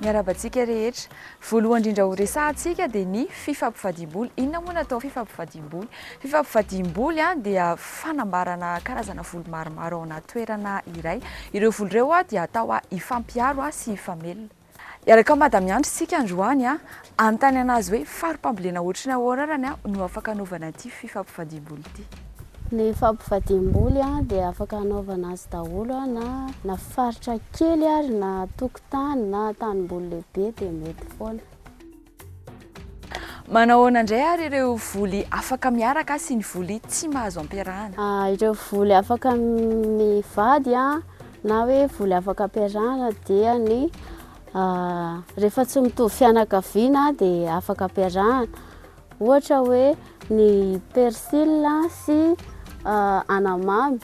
Miarahaba antsika rehetra. Voalohany indrindra ho resahantsika dia ny fifampivadiam-bola. Inona moa no atao fifampivadiam-bola? Fifampivadiam-boly dia fanambarana karazana voly maromaro ao anaty toerana iray. Ireo voly ireo dia atao hifampiharo sy hifamelona. Hiaraka amin'i Madame Andry isika androany Anontaniana azy hoe fari-pambolena ohatry ny ahoana ara ny no afaka anaovana ity fifampifadiam-boly ity. Ny fampifadiam-boly dia afaka anaovana azy daholo na na faritra kely ary na tokotany na tanimboly lehibe dia mety foana. Manahoana indray ary ireo voly afaka miaraka sy ny voly tsy mahazo ampiarahana? Ireo voly afaka mivady na hoe voly afaka ampiarahana dia ny Rehefa tsy mitovy fianakaviana dia afaka ampiarahana. Ohatra hoe ny persil sy anamamy.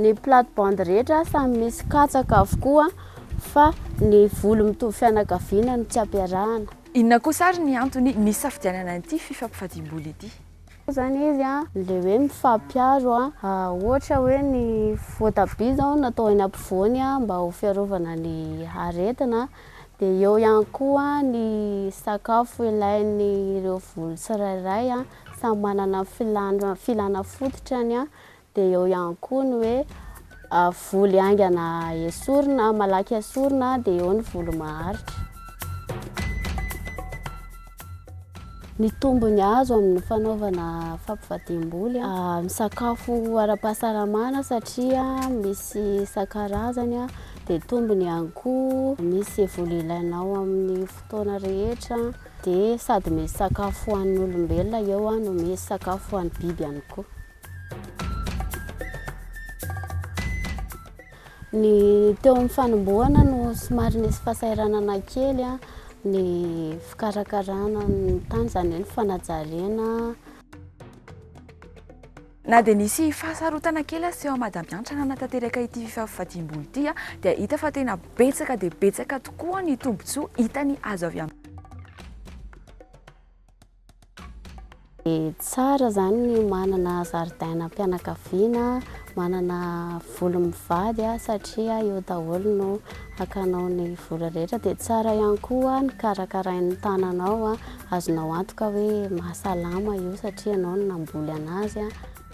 Ny plate bandes rehetra samy misy katsaka avokoa fa ny voly mitovy fianakaviana no tsy ampiarahana. Inona kosa ary ny antony nisafidianana ity fifampifadiam-boly ity? Koa zany izy a le hoe mifampiaro a ohatra hoe ny voatabia zao no atao eny ampovoany a mba ho fiarovana ny aretina de eo ihany koa ny sakafo ilainy ireo volo tsirairay a samy manana ny filana fototrany a Dia eo ihany koa ny hoe voly haingana esorina, malaky esorina, dia eo ny voly maharitra. Ny tombony azo amin'ny fanaovana fampivadiam-boly, misakafo ara-pahasalamana satria misy isan-karazany, dia tombony ihany koa misy voly ilainao amin'ny fotoana rehetra, dia sady misy sakafo ho an'ny olombelona eo no misy sakafo ho an'ny biby ihany koa. Ny teo amin'ny fanombohana no somary nisy fahasahiranana kely ny fikarakarana ny tany, izany hoe ny fanajariana. Na dia nisy fahasarotana kely aza teo amin'i Madame Hantra nanatanteraka ity fifafifadiam-bola ity dia hita fa tena betsaka dia betsaka tokoa ny tombontsoa hitany azo avy amin'ny. Tsara zany ny manana zaridainam-pianakaviana, manana voly mivady satria eo daholo no hakanao ny vola rehetra. Dia tsara ihany koa ny karakarain'ny tananao, azonao antoka hoe mahasalama io satria ianao no namboly anazy.